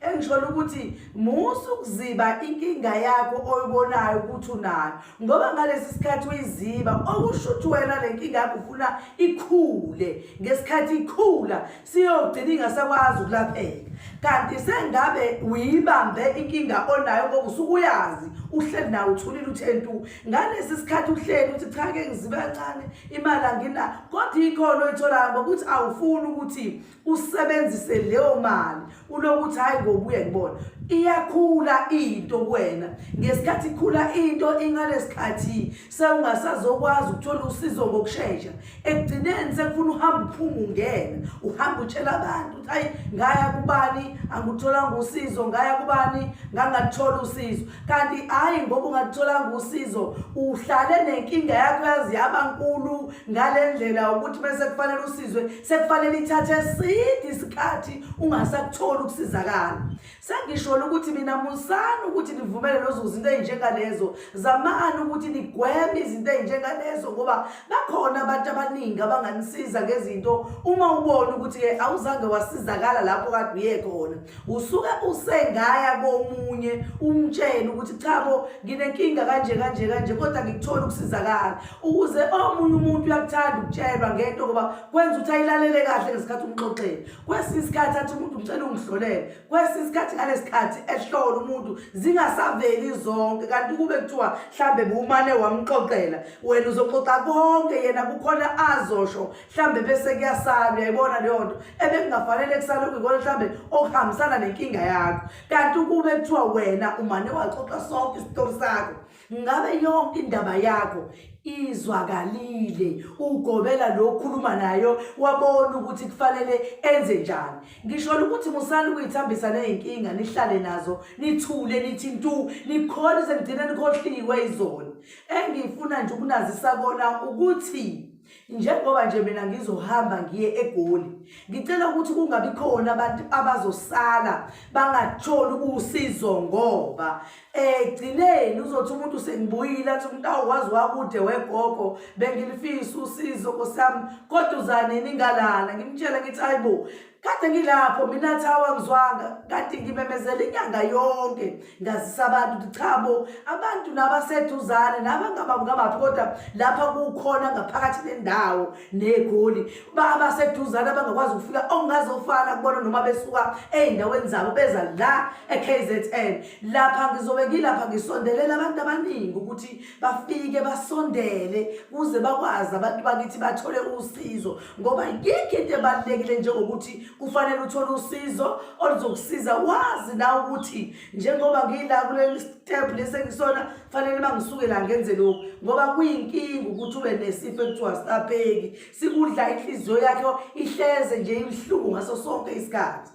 engisholo ukuthi musa ukuziba inkinga yakho oyibonayo ukuthi unayo ngoba ngalesi sikhathi uyiziba okusho ukuthi wena le nkinga yakho ufuna ikhule ngesikhathi ikhula siyogcina ingasakwazi ukulapheka kanti sengabe uyibambe inkinga onayo ngoba usuke uyazi uhleli nawe uthulile uthe ntu ngalesi sikhathi uhleli uthi cha ke ngizibe kancane imali angina kodwa ikhona oyitholayo ngokuthi awufuni ukuthi usebenzise leyo mali ulokuthi hayi ngobuye ngibona iyakhula into kuwena ngesikhathi ikhula into ingalesikhathi sewungasazokwazi ukuthola usizo ngokushesha ekugcineni sekufuna uhamba uphuma ungena uhamba utshela abantu ukuthi hayi ngaya kubani angutholanga usizo ngaya kubani ngangathola usizo kanti hayi ngoba ungatholanga usizo uhlale nenkinga yakho yazi yaba nkulu ngale ndlela ukuthi bese kufanele usizwe sekufanele ithathe eside isikhathi ungasakutholi ukusizakala sengisholo ukuthi mina musani ukuthi nivumele lezo zinto ezinjengalezo zamani ukuthi nigweme izinto ezinjengalezo ngoba bakhona abantu abaningi abanganisiza ngezinto uma ubona ukuthi-ke awuzange wasizakala lapho kade uye khona usuke usengaya komunye umtshele ukuthi cha bo nginenkinga kanje kanje kanje kodwa ngikuthola ukusizakala ukuze omunye umuntu uyakuthanda ukutshelwa ngento ngoba kwenza ukuthi ayilalele kahle ngesikhathi umxoxele kwesinye isikhathi athi umuntu ngicela ungihlolele kwesinye isikhathi ngalesikhathi ehlola umuntu zingasaveli zonke kanti kube kuthiwa mhlambe bumane wamxoxela wena uzoxoxa konke yena kukhona azosho mhlambe bese kuyasala uyayibona leyo nto ebekungafanele kusale kuyikona mhlambe okuhambisana nenkinga yakho kanti ukube kuthiwa wena umane waxoxa sonke isitori sakho ngabe yonke indaba yakho izwakalile ugobela lo khuluma nayo wabona ukuthi kufanele enze njani ngisho ukuthi musani kuyithambisa nezinkinga nihlale nazo nithule nithi ntu nikhole sengigcina nikhohliwe izona engifuna nje ukunazisa kona ukuthi njengoba nje mina ngizohamba ngiye egoli ngicela ukuthi kungabi khona abantu abazosala bangatholi usizo ngoba egcineni eh, uzothi umuntu sengibuyile athi umuntu awukwazi wakude wegogo bengilifisa usizo kosami kodwa uzanini ngalana ngimtshela ngithi hayibo kade ngilapho mina thawa ngizwanga kade ngimemezela inyanga yonke ngazisa abantu ukuthi cha bo abantu nabaseduzane nabangabangabaphi kodwa lapha kukhona ngaphakathi nendawo negoli babaseduzane abangakwazi ukufika okungazofana kubona noma besuka ey'ndaweni zabo beza la e-kzn lapha ngizobe ngilapha ngisondelela abantu abaningi ukuthi bafike basondele kuze bakwazi abantu bakithi bathole usizo ngoba yikho into ebalulekile njengokuthi kufanele uthole usizo oluzokusiza wazi na ukuthi njengoba ngila kuleli step lesi engisona fanele uma ngisuke la ngenze lokhu ngoba kuyinkinga ukuthi ube nesifo ekuthiwa sisapheki sikudla inhliziyo yakho ihleze nje ibuhlungu ngaso sonke isikhathi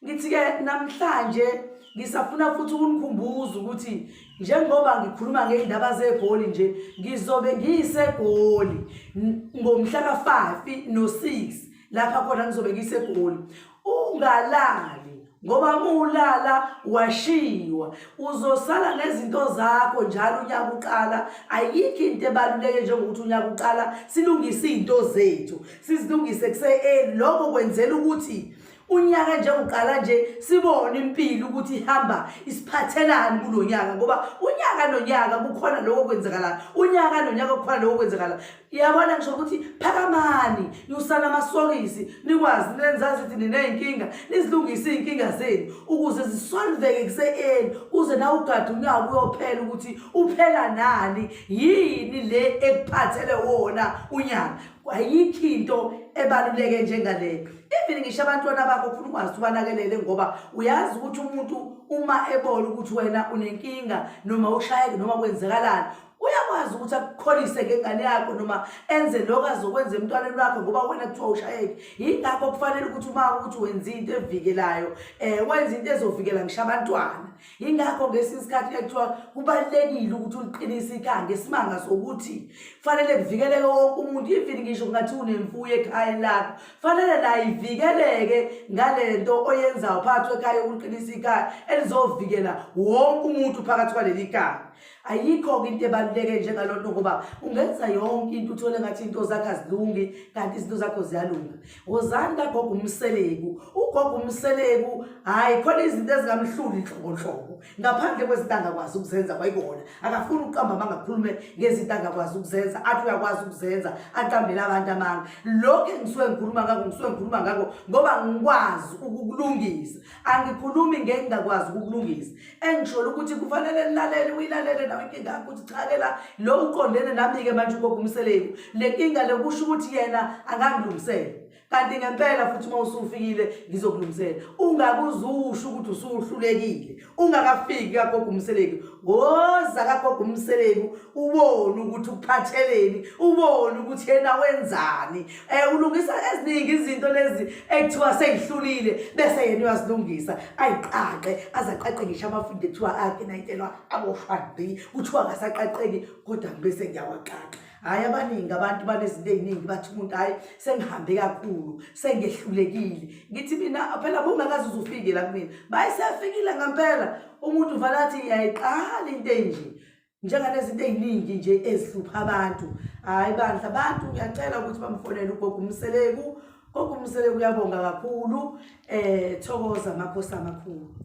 ngithi-ke namhlanje ngisafuna futhi ukunikhumbuza ukuthi njengoba ngikhuluma ngey'ndaba zegoli nje ngizobe ngiyisegoli ngomhla ka-five no-six lapha khona ngizobe ngiyisegoli ungalali ngoba mulala washiwa uzosala nezinto zakho njalo unyaka uqala ayikho into ebaluleke njengokuthi unyaka uqala silungise izinto zethu sizilungise kuse-early lokho kwenzela ukuthi unyaka nje uqala nje sibone impilo ukuthi ihamba isiphathelani kulo nyaka ngoba unyaka nonyaka kukhona lokho kwenzakalayo unyaka nonyaka kukhona lokho kwenzakalayo yabona ngisho ukuthi phakamani nyusana amasokisi nikwazi nenzazi ukuthi niney'nkinga nizilungise iy'nkinga zenu ukuze zisolveke kuse-eni kuze nawe ugade unyaka uyophela ukuthi uphela nani yini le ekuphathele wona unyaka ayikho into ebaluleke njengaleyo even ngisho abantwana bakho funa ukwazi ubanakelele ngoba uyazi ukuthi umuntu uma ebona ukuthi wena unenkinga noma ushayeke noma kwenzekalani uyakwazi ukuthi akukholise ngengane yakho noma enze lokho azokwenza emntwaneni wakho ngoba wena kuthiwa ushayeke yingakho kufanele ukuthi uma ukuthi wenza into evikelayo um wenza into ezovikela ngisho abantwana yingakho ngesinye isikhathi ekuthiwa kubalulekile ukuthi uliqinise ikhaya ngesimanga sokuthi kufanele kuvikeleke wonke umuntu even ngisho kungathi unemfuyo ekhaya lakho kufanele nayo ivikeleke ngale nto oyenzayo phakathi kwekhaya yokuliqinisa ikhaya elizovikela wonke umuntu phakathi kwaleli khaya ayikho-ke into ebaluleke njengalonto ngoba ungenza yonke into uthole ngathi into zakho azilungi kanti izinto zakho ziyalunga wozani kagogo umseleku ugogo umseleku hhayi khona izinto ezingamhluli nhlobohlobo ngaphandle kwezinto angakwazi ukuzenza kwayikona akafuni ukuqamba amanga akhulume ngezinto angakwazi ukuzenza athi uyakwazi ukuzenza aqambele abantu amanga lokhu engisuke ngikhuluma ngako ngisuke ngikhuluma ngako ngoba ngikwazi ukukulungisa angikhulumi ngengingakwazi ukukulungisa engisholo ukuthi kufanele nilalele uyilalele nawe inkinga yakho ukuthi cha ke la lo uqondene nami-ke manje ugogo umseleku le nkinga le kusho ukuthi yena angangilungisele kanti ngempela futhi uma usufikile ngizokulungisela ungakuzusho ukuthi usuhlulekile ungakafiki kagogo umseleku woza kagogo umseleku ubone ukuthi ukuphatheleni ubone ukuthi yena wenzani um ulungisa eziningi izinto lezi ekuthiwa seyihlulile bese yena uyazilungisa ayiqaqe aze aqaqe ngisho amafundi ekuthiwa akhe nayitelwa aboshwadi kuthiwa ngasaqaqeki kodwa ngibese ngiyawaqaqa hhayi abaningi abantu banezinto ey'ningi bathi umuntu hhayi sengihambe kakhulu sengehlulekile ngithi mina phela bungakaze uzufike la kumina bayiseyafikile ngampela umuntu uvale athi yayiqala into enje njengalezinto eziningi nje ezihlupha abantu hayi bandla abantu ngiyacela ukuthi bamfonele ugogo umseleku gogo umseleku uyabonga kakhulu eh thokoza makhosi amakhulu